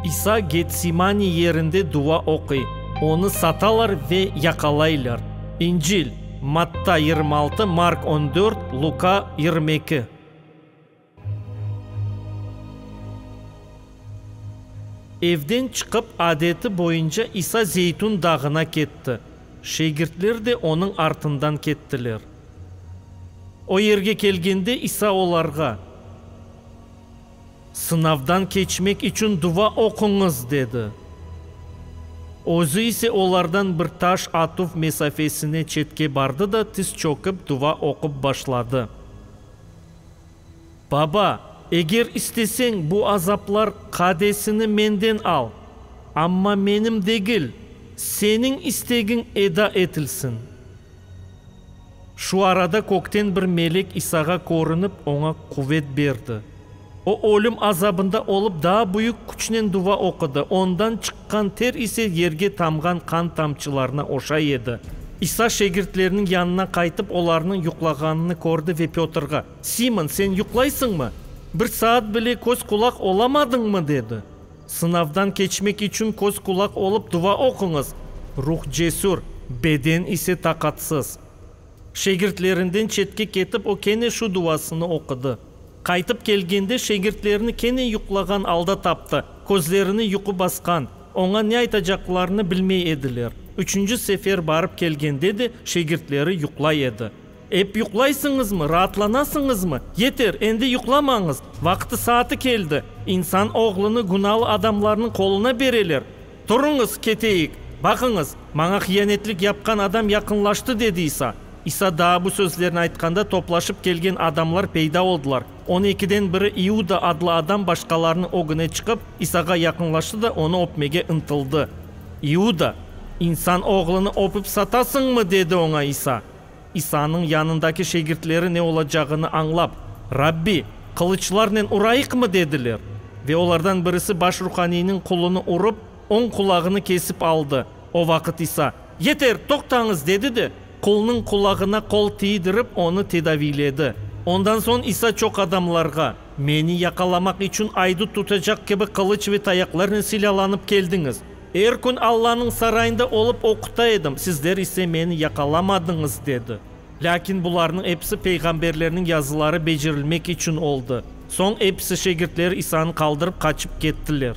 İsa Getsimani yerinde dua oquy, onı satalar ve yaqalaylar. İncil, Matta yirmi altı, Mark on dört, Luka yirmi eki. Evden çıqıp, adeti boyunca İsa Zeytun dağına ketti. Şegirtler de onıñ artından kettiler. O yerge kelgende İsa olarğa, Sınavdan keçmek içün dua oquñız, dedi. Özü ise olardan bir taş atuv mesafesine çetke bardı da tiz çökip dua oqup başladı. Baba, eger isteseñ, bu azaplar qadesini menden al, amma menim degil, seniñ istegiñ eda etilsin. Şu arada kökten bir melek İsağa körünip, oña quvet berdi. O, ölüm azabında olıp, daa büyük küçnen dua oqudı, ondan çıqqan ter ise yerge tamğan qan tamçılarına oşay edi. İsa şagirtleriniñ yanına qaytıp, olarnıñ yuqlağanını kördi ve Pötrğa, Simon, sen yuqlaysıñmı? Bir saat bile köz-qulaq olamadıñmı? dedi. Sınavdan keçmek içün köz-qulaq olıp dua oquñız, ruh cesür, beden ise taqatsız. Şagirtlerinden çetke ketip, o kene şu duasını oqudı. Qaytıp kelgende, şagirtlerini kene yuqlağan alda taptı, közlerini yuqu basqan. Oña ne aytacaqlarını bilmey ediler. Üçünci sefer barıp kelgende de şegirtleri yuqlay edi. Ep yuqlaysıñızmı, raatlanasıñızmı? Yeter, endi yuqlamañız! Vaqtı-saatı keldi! İnsan oğlunı günalı adamlarnıñ qoluna bereler! Turıñız, keteyik! Baqıñız, maña hiyanetlik yapqan adam yaqınlaştı, dedi İsa. İsa daa bu sözlerni aytqanda toplaşıp kelgen adamlar peyda oldılar. On ekiden biri İuda adlı adam başqalarnıñ ögüne çıqıp, İsağa yaqınlaştı da onı öpmege ıntıldı. İuda, İnsan Oğlunı öpüp satasıñmı? dedi oña İsa. İsanıñ yanındaki şegirtleri ne olacağını añlap, Rabbi, qılıçlarnen urayıqmı? dediler. Ve olardan birisi baş ruhaniyniñ qulunı urıp, oñ qulağını kesip aldı. O vaqıt İsa, Yeter, toqtañız! dedi de, Qulnıñ qulağına qol tiydirip, onı tedaviyledi. Ondan soñ İsa çoq adamlarğa, Meni yaqalamaq içün aydut tutacaq kibi qılıç ve tayaqlarnen silâlanıp keldiñiz. Er kün Allanıñ sarayında olıp oquta edim, sizler ise meni yaqalamadıñız, dedi. Lâkin bularnıñ episi peyğamberlerniñ yazıları becerilmek içün oldı. Soñ episi şagirtleri İsanı qaldırıp qaçıp kettiler.